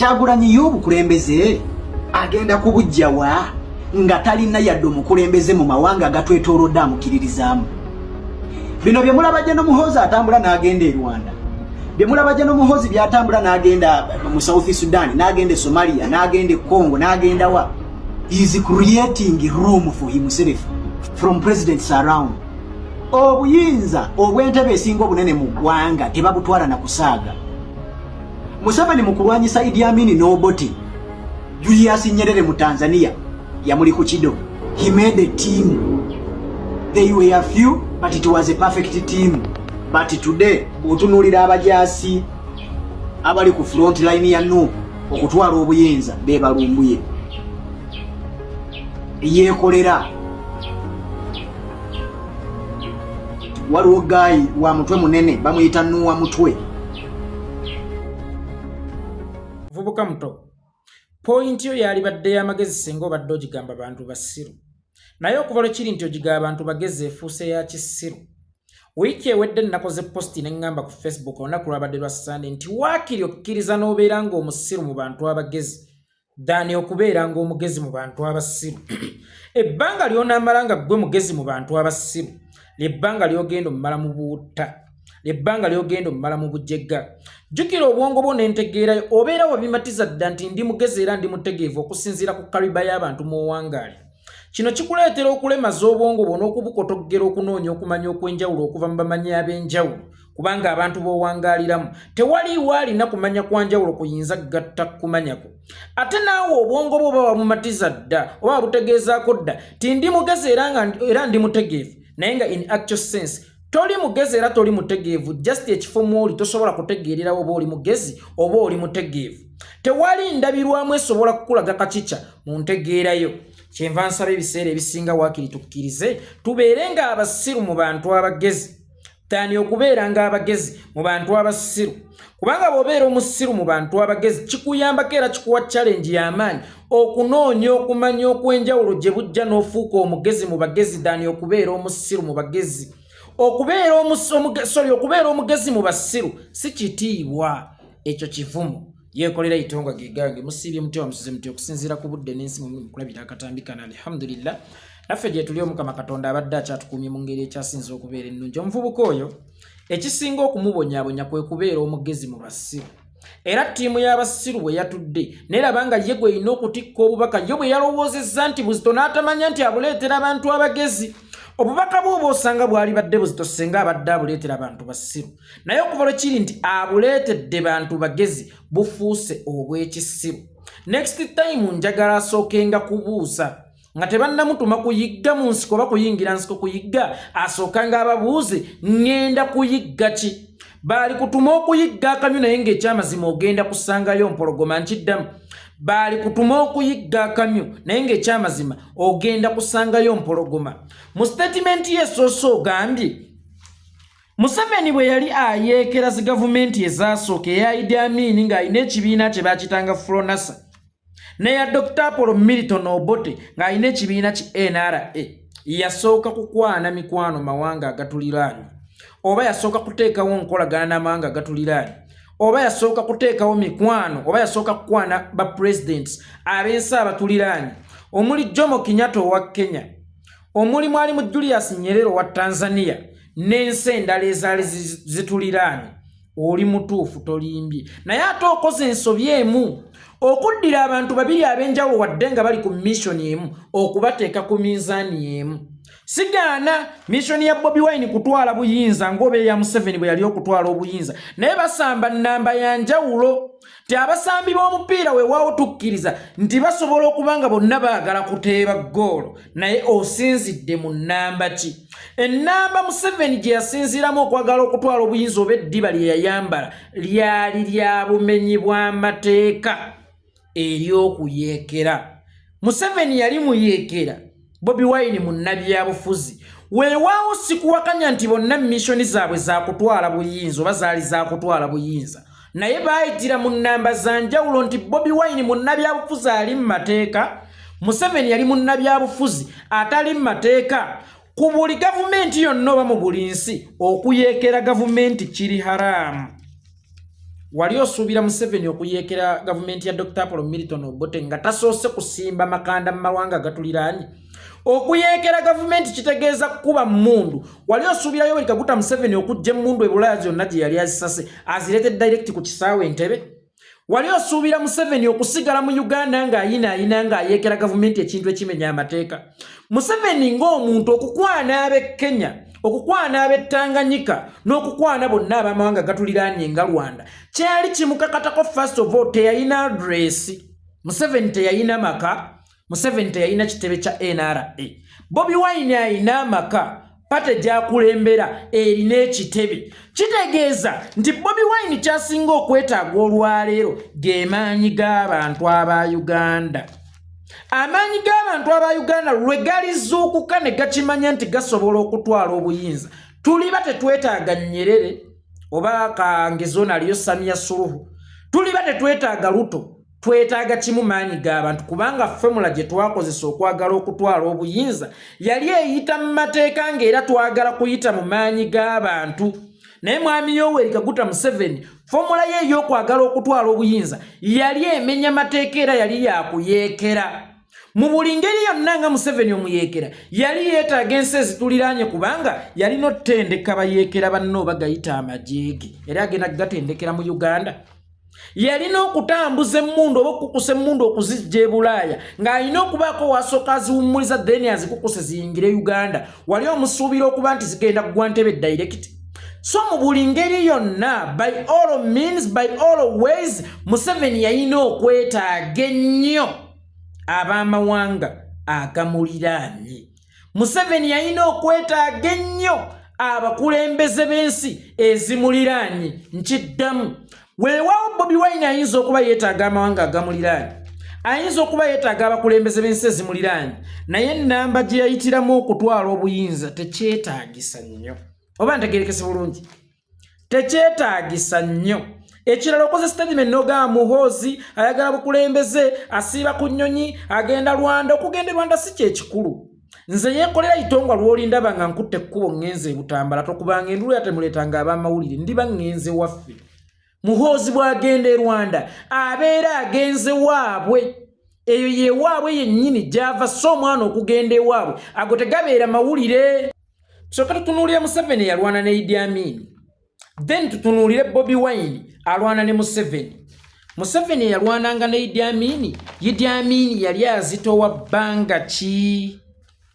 kyagulanyi ye obukulembeze agenda kubujjawa nga talina yadde omukulembeze mu mawanga agatwetolodde amukiririzaamu bino bye mulabajja n'omuhoozi atambula n'agenda e rwanda bye mulabajja n'omuhoozi byatambula n'agenda mu south sudan n'agenda e somalia n'agenda e congo n'agenda wa is creating room for himself from presidents around obuyinza obw'entebe esinga obunene mu ggwanga tebabutwala na kusaaga Museveni mu kulwanyisa Idi Amini n'Oboti, Julius Nyerere mu Tanzania yamuli ku kido. He made a team. They were a few, but it was a perfect team. But today, otunulira abajaasi abali ku front line ya Nup okutwala obuyinza bebalumbuye yekolera waliwo gayi wa mutwe munene bamuyita nuwa mutwe vubuka muto pointi yo yalibadde yamagezi singa obadde ogigamba bantu basiru naye okuva lwe kiri nti ogiga abantu bagezi efuuse ya kisiru wiiki ewedde nnakoze posti ne ŋŋamba ku facebook olunaku lwabadde lwa sande nti waakiri okkiriza n'obeera ng'omusiru mu bantu abagezi dani okubeera nga omugezi mu bantu abasiru ebbanga lyonamala nga ggwe mugezi mu bantu abasiru lyebbanga lyogenda omumala mu buutta lyebbanga lyogenda omumala mu bujega jjukira obwongo bwo nentegeerayo obeera wabimatiza dda nti ndi mugezi era ndi mutegeevu okusinziira ku kariba y'abantu mu owangaali kino kikuleetera okulemaza obwongo bwo n'okubukotoggera okunoonya okumanya okw'enjawulo okuva mu bamanyi ab'enjawulo kubanga abantu b'owangaaliramu tewaliiwo alina kumanya kwa njawulo kuyinza gatta kumanyako ate naawe obwongo bwe oba wabumatiza dda oba wabutegeezaako dda ti ndi mugezi era ndi mutegeevu naye nga in actual sense toli mugezi era toli mutegeevu just ekifo mwoli tosobola kutegeererawo oba oli mugezi oba oli mutegeevu tewali ndabirwamu esobola kukulaga kakica mu ntegeerayo kyenva nsaba ebiseera ebisinga waakiri tukkirize tubeere ng'abasiru mu bantu abagezi Tani okubeera nga abagezi mu bantu abasiru kubanga bwobeera omusiru mu bantu abagezi kikuyambako era kikuwa challenge y'amaanyi okunoonya okumanya okw'enjawulo gye bujja n'ofuuka omugezi mu bagezi dani okubeera omusiru mu bagezi okubeera omusori okubeera omugezi mu basiru si kitiibwa ekyo kivumu yekolera itonga gigange musiibye mutya wamusize mutya okusinziira ku budde n'ensi mukulabira akatambi kana alhamdulillah naffe gyetuli omukama katonda abadde akyatukuumye mu ngeri ekyasinza okubeera ennungi omuvubuka oyo ekisinga okumubonyabonya kwe kubeera omugezi mu basiru era ttiimu y'abasiru bwe yatudde neraba nga ye gwe erina okutikka obubaka ye bwe yalowoozezza nti buzito n'atamanya nti abuleetera abantu abagezi obubaka bwe oba osanga bwali badde buzito singa abadde abuleetera abantu basiru naye okuva lwe kiri nti abuleetedde bantu bagezi bufuuse obw'ekisiru next time njagala asookenga kubuuza nga tebannamutuma kuyigga mu nsiko oba kuyingira nsiko kuyigga asookanga ababuuzi ŋŋenda kuyigga ki baali kutuma okuyigga akamyu naye ng'ekyamazima ogenda kusangayo mpologoma nkiddamu baali kutuma okuyigga akamyu naye ng'ekyamazima ogenda kusangayo mpologoma mu sitatimenti yesoose ogambye Museveni bwe yali ayeekera zi gavumenti ezaasooka eya Idi Amin ng'alina ekibiina kye baakitanga Fronasa neya Dr Apollo Milton Obote ng'alina ekibiina ki NRA yasooka kukwana mikwano mawanga agatuliraanye oba yasooka kuteekawo nkolagana n'amawanga agatuliraanye oba yasooka kuteekawo mikwano oba yasooka kukwana ba presidents ab'ensi abatuliraanye omuli Jomo Kenyatta owa Kenya omuli mwali mu julius nyerere owa tanzania n'ensi endala ezaali zituliraanye oli mutuufu tolimbye naye ate okoze ensobi emu okuddira abantu babiri ab'enjawulo wadde nga bali ku missoni emu okubateeka ku minzaani emu sigaana missoni ya bobi wine kutwala buyinza ng'oba eya museveni bwe yali okutwala obuyinza naye basamba nnamba ya njawulo nti abasambi b'omupiira wewaawo tukkiriza nti basobola okuba nga bonna baagala kuteeba ggoolo naye osinzidde mu nnamba ki ennamba museveni gye yasinziiramu okwagala okutwala obuyinza oba eddiba lye yayambala lyali lya bumenyi bw'amateeka ery'okuyeekera museveni yali muyeekera Bobi Wine munnabyabufuzi weewaawo sikuwakanya nti bonna missoni zaabwe zaakutwala buyinza oba zaali zaakutwala buyinza naye baayitira mu nnamba za njawulo nti Bobi Wine munnabyabufuzi ali mu mateeka Museveni yali munnabyabufuzi atali mu mateeka ku buli gavumenti yonna oba mu buli nsi okuyeekera gavumenti kiri haraamu wali osuubira museveni okuyeekera gavumenti ya dr apolo milton obote nga tasoose kusimba makanda mu mawanga agatuliraanye okuyeekera gavumenti kitegeeza kukuba mmundu wali osuubira yoweri kaguta museveni okujja emmundu ebulaya zonna gye yali azisase azireete direct ku kisaawe entebe wali osuubira museveni okusigala mu uganda ng'ayinaayina ng'ayeekera gavumenti ekintu ekimenya amateeka museveni ng'omuntu okukwana ab'e kenya okukwana ab'ettanganyika n'okukwana bonna abamawanga gatuliraanye nga rwanda kyali kimukakatako first of all teyalina adresi museveni teyalina maka museveni teyalina kitebe kya nra bobi wine alina amaka pate gyakulembera erina ekitebe kitegeeza nti bobi wine kyasinga okwetaaga olwaleero gemaanyi g'abantu aba uganda amaanyi g'abantu aba uganda lwe galizuukuka ne gakimanya nti gasobola okutwala obuyinza tuliba tetwetaaga nyerere oba kangezona aliyo samiya suluhu tuliba tetwetaaga luto twetaaga kimu maanyi g'abantu kubanga fomula gye twakozesa okwagala okutwala obuyinza yali eyita mu mateeka ng'era twagala kuyita mu maanyi g'abantu naye mwami yoweri kaguta museveni fomula ye ey'okwagala okutwala obuyinza yali emenya mateeka era yali yakuyeekera mu buli ngeri yonna nga museveni omuyeekera yali yeetaaga ensi ezituliraanye kubanga yalina otutendeka bayeekera banna oba gayita amajeege era agenda kugatendekera mu uganda yalina okutambuza emmundu oba okukusa emmundu okuzijja e bulaaya ng'alina okubaako waasooka aziwummuliza then azikukuse ziyingire uganda wali omusuubira okuba nti zigenda kugwa ntebe direct so mu buli ngeri yonna by all means by all ways museveni yalina okwetaaga ennyo ab'amawanga agamuliraanye museveni yalina okwetaaga ennyo abakulembeze b'ensi ezimuliraanye nkiddamu weewaawo bobi wine ayinza okuba yeetaaga amawanga agamuliraanyi ayinza okuba yeetaaga abakulembeze b'ensi ezimuliraanyi naye ennamba gye yayitiramu okutwala obuyinza tekyetaagisa nnyo oba ntegerekese bulungi tekyetaagisa nnyo ekirala okoze statement nogaa muhoozi ayagala bukulembeze asiiba ku nnyonyi agenda lwanda okugenda e rwanda si kyekikulu nze yekolera itongwa lwolindaba nga nkutte ekkubo ŋŋenze ebutambala tokubanga endulu yatemuleetanga ab'amawulire ndiba ŋŋenze waffe muhoozi bw'agenda e rwanda abeera agenze waabwe eyo yewaabwe yennyini gy'ava so omwana okugenda ewaabwe ago tegabeera mawulire soka tutunuulira museveni yalwana ne idi amiini then tutunuulire bobi wine alwana ne museveni museveni eyalwananga ne idi amini idi amini yali azitowa bbanga ki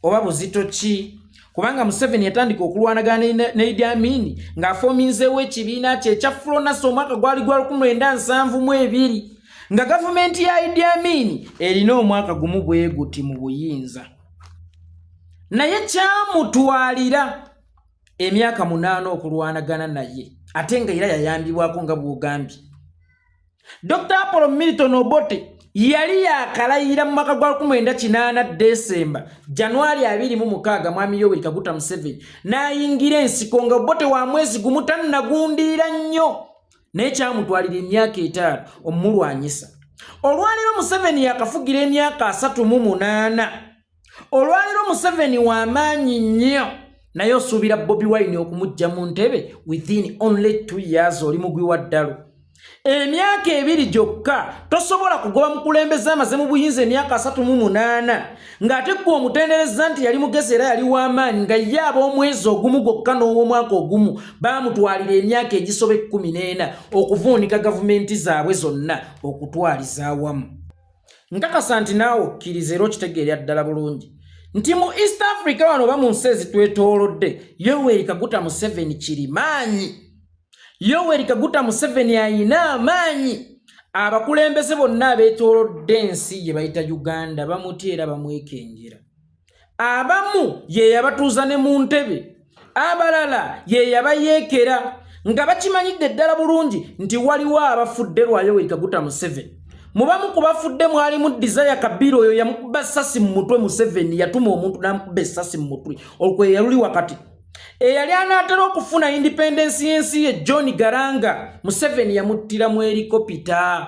oba buzito ki kubanga museveni yatandika okulwanagana ne idi amini ng'afominzeewo ekibiina kye ekya fulonasi omwaka gwali gwa 1972 nga gavumenti ya idi amini erina omwaka gumu bwe guti mu buyinza naye kyamutwalira emyaka munaana okulwanagana naye ate nga era yayambibwako nga bwogambye dr apolo milton obote yali yakalayira mu mwaka gwa 19 desemba januari 26 mwami yoweri kaguta museveni n'ayingira ensiko nga obote wa mwezi gumu tannagundiira nnyo naye kyamutwalira emyaka etaano omumulwanyisa olwaleero museveni yakafugira emyaka 38 olwaliro museveni wamaanyi nnyo naye osuubira bobi wine okumujja mu ntebe within only two years oli mugwi wa ddalu emyaka ebiri gyokka tosobola kugoba mukulembeze amaze mu buyinza emyaka asatu mu munaana ng'ate ggwe omutendereza nti yali mugezi era yali w'amaanyi nga ye ab'omwezi ogumu gwokka n'ow'omwaka ogumu baamutwalira emyaka egisoba ekkumi n'ena okuvuunika gavumenti zaabwe zonna okutwaliza awamu nkakasa nti naawe okkiriza era okitegeera ddala bulungi nti mu east africa wano oba mu nsi ezitwetoolodde yoweri kaguta museveni kirimaanyi yoweri kaguta museveni ayina amaanyi abakulembeze bonna abeetoolodde ensi gye bayita uganda bamutya era bamwekengera abamu ye yabatuuza ne mu ntebe abalala ye yabayeekera nga bakimanyidde ddala bulungi nti waliwo abafudde lwayoweri kaguta museveni mubamu ku bafudde mwalimu desire kabira oyo yamukuba essasi mu mutwe museveni yatuma omuntu namukuba essasi mu mutwe olwo yaluli wakati eyali anaatera okufuna independensi y'ensi ye john garanga museveni yamuttira mu erikopita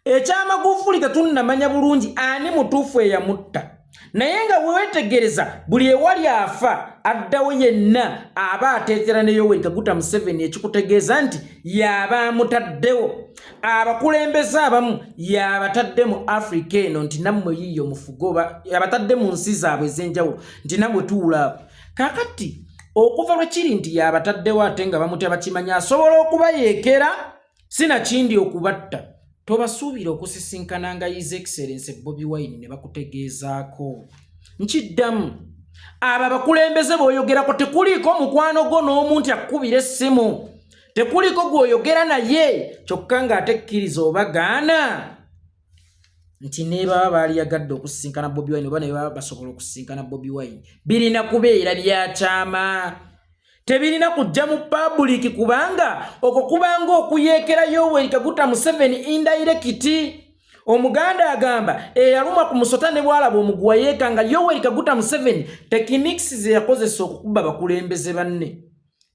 ekyamagufuli tetunnamanya bulungi ani mutuufu eyamutta naye nga wewetegereza buli ewali afa addawo yenna aba ateetera ne yoweri kaguta museveni ekikutegeeza nti yaaba amutaddewo abakulembeze abamu yabatadde mu afrika eno nti nammwe yiiyo mufugoba yabatadde mu nsi zaabwe ez'enjawulo nti namwe tuwulaabo kakati okuva lwe kiri nti yabataddewo ate nga bamutya bakimanya asobola okubayeekera sinakindi okubatta tobasuubira okusisinkananga his excellence bobi wine ne bakutegeezaako nkiddamu abo abakulembeze booyogerako tekuliiko mukwano gwo n'omu nti akukubira essimu tekuliiko gwoyogera naye kyokka ng'atekkiriza obagaana nti nebaba baaliyagadde okusisinkana bobi wine oba nebaba basobola okusisinkana bobi wine birina kubeera byakyama tebirina kujja mu pabuliki kubanga okwo kubanga okuyeekera yoweri kaguta museveni indairekiti omuganda agamba eyaluma ku musota ne bwalaba omuguwa yeeka nga yoweri kaguta museveni tekiniks zeyakozesa okukuba bakulembeze banne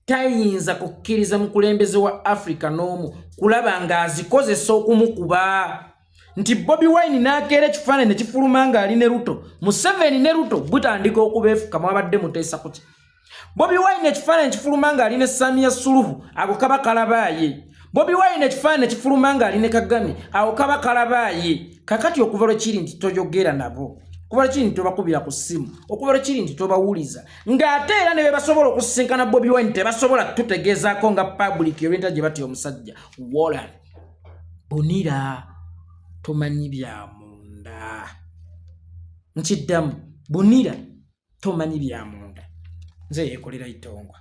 tayinza kukkiriza mukulembeze wa africa n'omu kulaba ng'azikozesa okumukuba nti bobi wine n'akeera ekifaananyi nekifuluma ng'ali ne ruto museveni ne ruto butandika okubeefuka mwabadde muteesa kuki bobi wine ekifaananyi ekifuluma ng'ali ne samiya suluhu ako kaba kalabaaye bobi wine ekifaananyi ekifuluma ng'ali ne kagame ako kaba kalabaaye kakati okuva lwekiri nti toyogera nabo okuva lwekiri nti tobakubira ku ssimu okuva lwekiri nti tobawuliza ng'ate era ne bebasobola okusisinkana bobi wine tebasobola tutegeezaako nga public olwenta gye batya omusajja wolan bunira tomanyi bya munda nkiddamu bunira tomanyi bya munda nze yeekolera itongwa